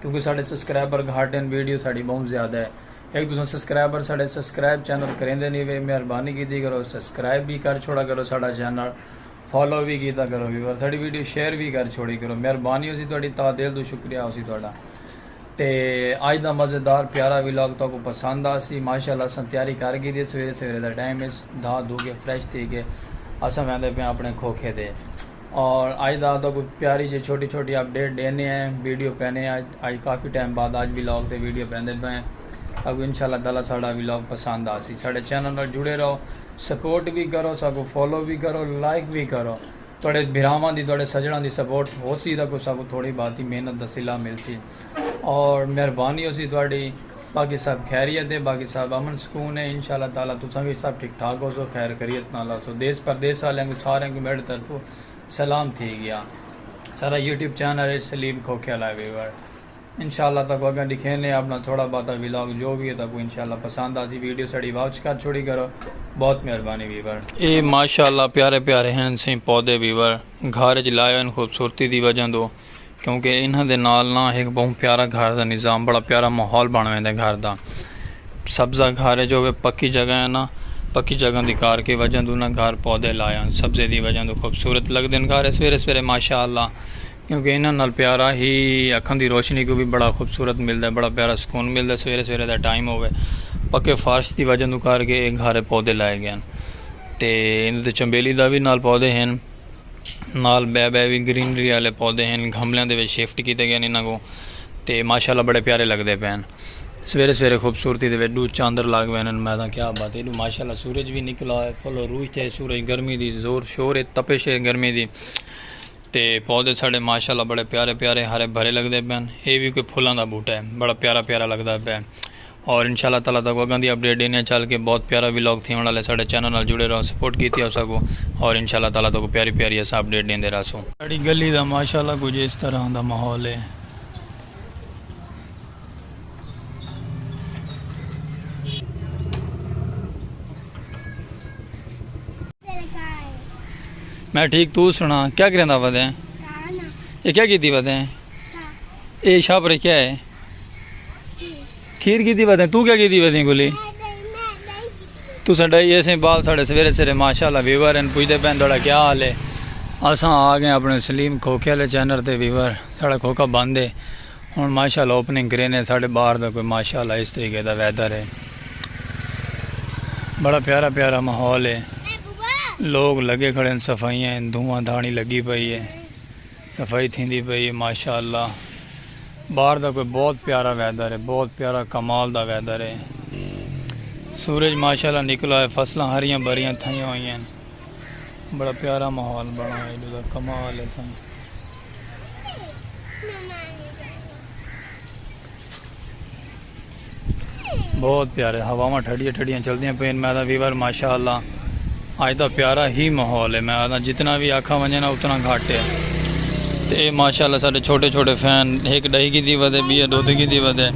کیونکہ ساڈے سسکرائبر گھٹ ہن ویڈیو ساڈی بہوں زیادہ ہے ہک تساں سسکرائبر ساڈے سسکرائب چینل کریندے نی وے مہربانی کیتی کرو سسکرائب وی کر چھوڑا کرو ساڈا چینل فالو وی کیتا کرو ویور ساڈی ویڈیو شیئر وی کر چھوڑی کرو مہربانی ہوسی تہاڈی تہہ دل توں شکریہ ہوسی تہاڈا تے اج دا مزیدار پیارا ولاگ تہاکوں پسند آسی ماشاءاللہ اساں تیاری کر گھیدی سویرے سویرے دا ٹائم اچ دھا دھو کے فریش تھی کے اساں ویندے پیاں اپنے کھوکھے دے اور آج دا آتا کوئی پیاری جی چھوٹی چھوٹی اپ ڈیٹ دینے ہیں ویڈیو پینے ہیں آج کافی ٹائم بعد آج ویلاگ تے ویڈیو پیندے پہ ہیں اگو انشاءاللہ تعالی ساڑا ویلاگ پسند آسی ساڑے چینل نال جڑے رہو سپورٹ بھی کرو ساکو فالو بھی کرو لائک بھی کرو توڑے بھراواں دی توڑے سجڑاں دی سپورٹ ہو سی تاکو ساکو تھوڑی باتی محنت دا سلا مل سی اور مہربانی ہوسی تہاڈی۔ باقی سب خیریت ہے باقی سب امن سکون ہے ان شاء اللہ تعالی تساں وی سب ٹھیک ٹھاک ہوسو خیر خریت نال ہوسو دیس پردیس آلیاں کوں ساریاں کوں میڈے طرفوں سلام تھی گیا ساڈا یوٹیوب چینل ہے سلیم کھوکھیا لائیو ویور ان شاء اللہ تہاکوں اگاں ڈکھینے اپنا تھوڑا باتا ولاگ جو وی ہے تہاکوں ان شاء اللہ پسند آسی ویڈیو ساڈی واچ کر چھوڑی کرو بہت مہربانی ویور۔ اے ماشاءاللہ پیارے پیارے ہن سئیں پودے ویور گھر اچ لائے ہوئن خوبصورتی دی وجہ توں۔ کیوں کہ انہاں دے نال نہ ہک بہوں پیارا گھر دا نظام بڑا پیارا ماحول بن ویندے گھر دا سبزہ گھر ہے جو پکی جگہ ہے نا پکی جگہ دی کار کے وجہ دوں نا گھر پودے لایا سبزے دی وجہ دوں خوبصورت لگ دن گھر سویرے سویرے ماشاء اللہ کیوں کہ انہاں نال پیارا ہی اکھاں دی روشنی کو بھی بڑا خوبصورت ملدا ہے بڑا پیارا سکون ملدا ہے سویرے سویرے دا ٹائم ہووے پکے فارش دی وجہ دوں کر کے گھر پودے لائے گئے ہیں تے انہاں دے چنبیلی دا بھی نال پودے ہیں نال بئے بئے وی گرینری والے پودے ہن گھملیاں دے وچ شفٹ کیتے گئے انہاں کو تے ماشاءاللہ بڑے پیارے لگدے پئے ہن سویرے سویرے خوبصورتی دے وچ ڈو چاندر لگ وین ہن میں کیا بات ہے ماشاءاللہ سورج وی نکلا ہے فل عروج تے سورج گرمی دی زور شور ہے تپش ہے گرمی دی تے پودے ساڈے ماشاءاللہ بڑے پیارے پیارے ہرے بھرے لگدے پئے ہن اے وی کوئی پھلاں دا بوٹا ہے بڑا پیارا پیارا لگدا پئے اور انشاء اللہ تعالی تہاکوں اگاں دی اپڈیٹ ڈینے آں چل کے بہت پیارا ولاگ تھیون آلا ہے ساڈے چینل نال جڑے راہو سپورٹ کیتی اوساکوں اور انشاء اللہ تعالی تہاکوں پیاری پیاری اساں اپڈیٹ ڈیندے راہسوں۔ ساڈی گلی دا ماشاء اللہ کجھ اس طرح دا ماحول ہے۔ میں ٹھیک تو سنا کیا کریندا پتیں اے کیا کیتی پتیں اے شاپ رکھیا ہے کھیر گیدی ویدیں تو کیا گیدی ویدیں گلی تو سا ڈائی ایسے بال ساڑے سویرے سرے ماشاءاللہ ویور ہیں پوچھتے پہن دوڑا کیا حال ہے اساں آگے اپنے سلیم کھوکے لے چینر تے ویور ساڑا کھوکا باندے ہون ماشاءاللہ اوپننگ کرینے ساڑے بار دا کوئی ماشاءاللہ اس طریقے دا ویدر ہے بڑا پیارا پیارا محول ہے لوگ لگے کھڑے ہیں صفائیاں ہیں دھواں دھانی لگی پئی ہے صفائی تھیندی پئی ہے ماشاءاللہ باہر دا کوئی بہت پیارا ویدر ہے بہت پیارا کمال دا ویدر ہے سورج ماشاءاللہ نکلا ہے فصلاں ہریاں بھریاں تھائیاں ہوئی ہیں بڑا پیارا ماحول بنا ہے جو کمال ہے سن بہت پیارے ہواواں ٹھڈیاں ٹھڈیاں چلدیاں پین میں آدھا ویور ماشاء اللہ اج دا پیارا ہی ماحول ہے میں آدھا جتنا بھی آکھا ونجے نا اتنا گھٹ ہے تے اے ماشاء اللہ سارے چھوٹے چھوٹے فین ایک ڈہی کی دی ودے بی دو دی کی دی ودے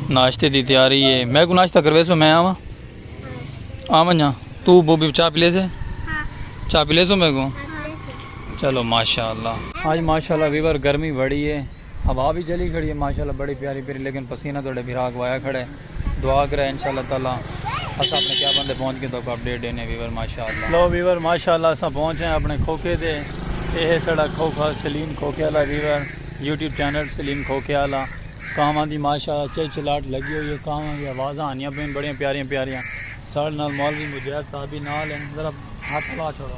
ناشتے دی تیاری ہے میں کو ناشتہ کروے سو میں آواں آواں جا تو بو بھی چاہ پلے سے چاہ پلے سو میں کو چلو ماشاء اللہ آج ماشاء اللہ ویور گرمی بڑی ہے ہوا وی چلی کھڑی ہے ماشاءاللہ بڑی پیاری پیری لیکن پسینہ تہاڈے بھرا اگوایا کھڑا ہے دعا کرے انشاءاللہ تعالی اسا اپنے کیا بندے پہنچ کے تو کو اپڈیٹ دینے ویور ماشاءاللہ لو ویور ماشاءاللہ اسا پہنچ ہیں اپنے کھوکے دے اے ہے سڑا کھوکا سلیم کھوکے والا ویور یوٹیوب چینل سلیم کھوکے والا کاواں دی ماشاءاللہ چے چلاٹ لگی ہوئی ہے کاواں دی آوازاں آنیاں پین بڑیاں پیاریاں پیاریاں ساڈے نال مولوی مجاہد صاحب بھی نال ہیں ذرا ہاتھ لا چھوڑو